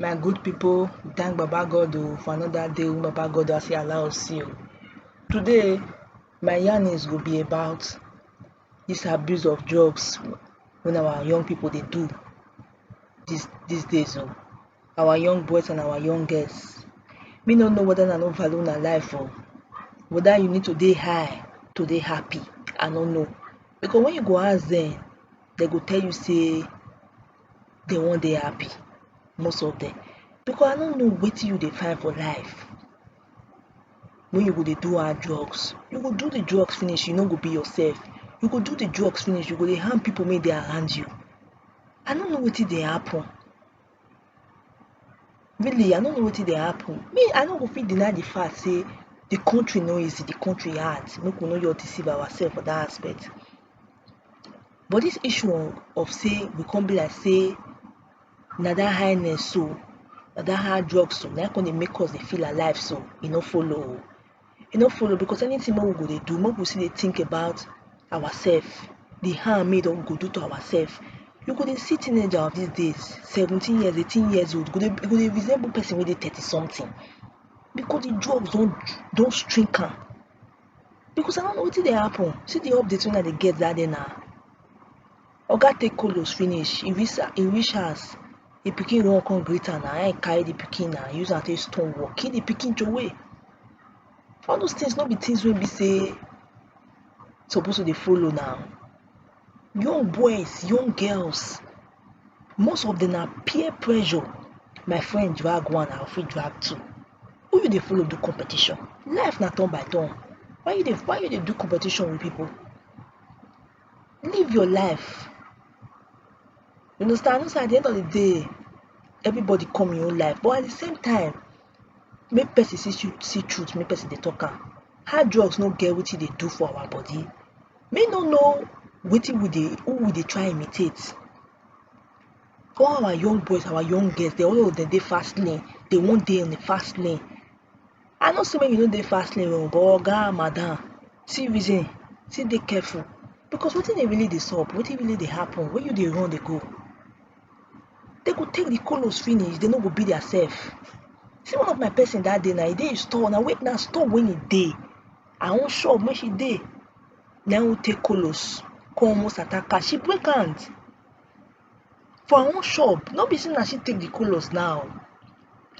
my good people thank baba god o for another day wey baba god don fit allow us see o today my yarnings go be about this abuse of drugs wey our young people dey do this these days o our young boys and our young girls me no know whether na no value una life o whether you need to dey high to dey happy i no know because when you go ask them they go tell you say they wan dey happy most of them because i no know wetin you dey find for life when you go dey do hard drugs you go do the drugs finish you no go be yourself you go do the drugs finish you go dey harm people make dey around you i no know wetin dey happen really i no know wetin dey happen me i no go fit deny the fact say the country no easy the country hard make we no just deceive ourselves for that aspect but this issue of of say we come be like say na that highness so na that hard drugs so na him come dey make us dey feel alive so e no follow o e no follow because anything wey we go dey do make we still dey think about ourself the harm wey we go do to ourself you go dey see teenager of these days seventeen years eighteen years old go dey go dey resemble person wey dey thirty something because the drugs don don shrink am because I don't know wetin dey happen see the update wey I dey get that day na Oga take Kolos finish, e reach e reach house, di pikin run come greet am na, na im e carry di pikin na use am take stone wall, kill di pikin trowey. All dose tins no be tins wey be sey suppose to dey follow na. Young boys, young girls, most of dem na peer pressure, my friend drag one I fit drag two, who you dey follow do competition, life na turn by turn, why you dey why you dey do competition wit pipu. live your life you understand know say at the end of the day everybody come im own life but at the same time make person see tru- see truth make person dey talk am hard drugs no get wetin e dey do for our body me no know wetin we dey who we dey try imitate all our young boys our young girls dem all of dem dey fast lane dey wan dey on the fast lane I know sey make you no dey fast lane oh, but oga, madam see reason, see dey careful because wetin dey really dey sup, wetin really dey happen, where you dey run dey go? Dem go take di kolos finish, dem no go be dia sef. See one of my pesin dat day na, e dey im store, na na store wey e dey, her own shop wey she dey, na im take kolos kon almost attack her, she break hand. for her own shop no be say na she take the colos now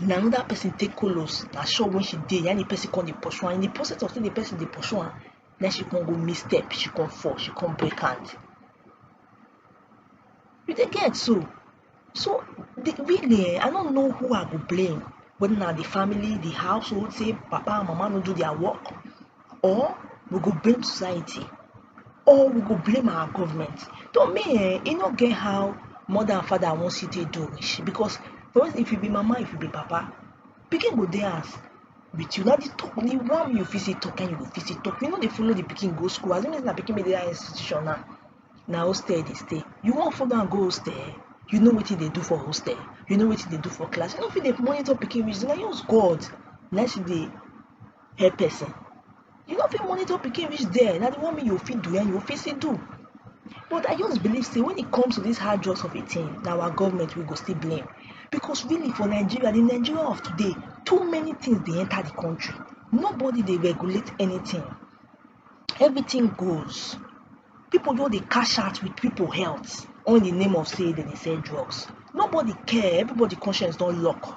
na another person take colos na shop wey she dey na the person come dey pursue am in the process of say the person dey pursue am na she come go miss step she come fall she come break hand you dey get so so the really um i no know who i go blame whether na the family the household say papa and mama no do their work or we go blame society or we go blame our government to me um e no get how mother and father wan still take do rich because for instance if you be mama if you be papa pikin go dey house with you na the talk the one you fit still talk na you go fit still talk you no dey follow the pikin go school as e be say na pikin wey dey that institution now na hostel e dey stay you wan follow am go hostel you know wetin e dey do for hostel you know wetin e dey do for class you no fit dey monitor pikin reach there na just God na him still dey help person you no fit monitor pikin reach there na the one make you fit do and you fit still do but i just believe say when it comes to this hard drugs of a thing na our government we go still blame because really for nigeria the nigeria of today too many things dey enter the country nobody dey regulate anything everything goes people just dey cash out with people health all in the name of say dem dey sell drugs nobody care everybody conscience don lock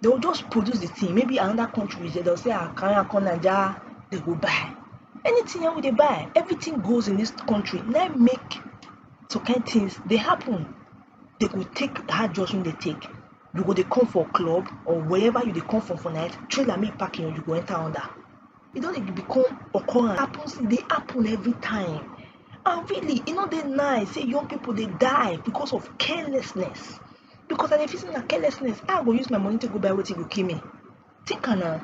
They will just produce the thing. Maybe another country, they'll say, ah, carry am come Naija, they go buy. Anything wey they buy, everything goes in this country. Now make some kind things they happen. They go take hard drugs when they take. You go they come for club or wherever you they come from for night, trailer make parking or you go enter under. It don't even become occurrence. It happens, they happen every time. And really, you know, they nice. Say young people they die because of carelessness. because i dey feel say na carelessness how i go use my money take go buy wetin go kill me think am na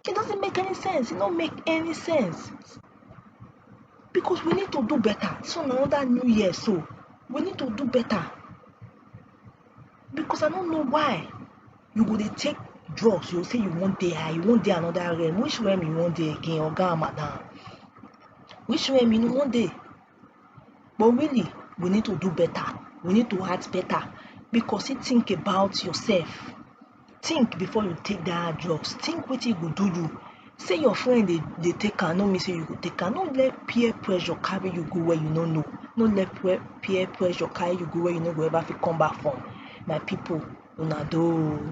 it doesn't make any sense e no make any sense because we need to do better this one na another new year so we need to do better because i no know why you go dey take drugs you go say you wan dey high you wan dey another realm which realm you wan dey again oga and madam which realm you wan dey but really we need to do better we need to act better because you think about yourself think before you take that drugs think wetin e go do you say your friend dey dey take am no mean say you go take am no let peer pressure carry you go where you no know no let peer peer pressure carry you go where you no go ever fit come back from my people una doh oo.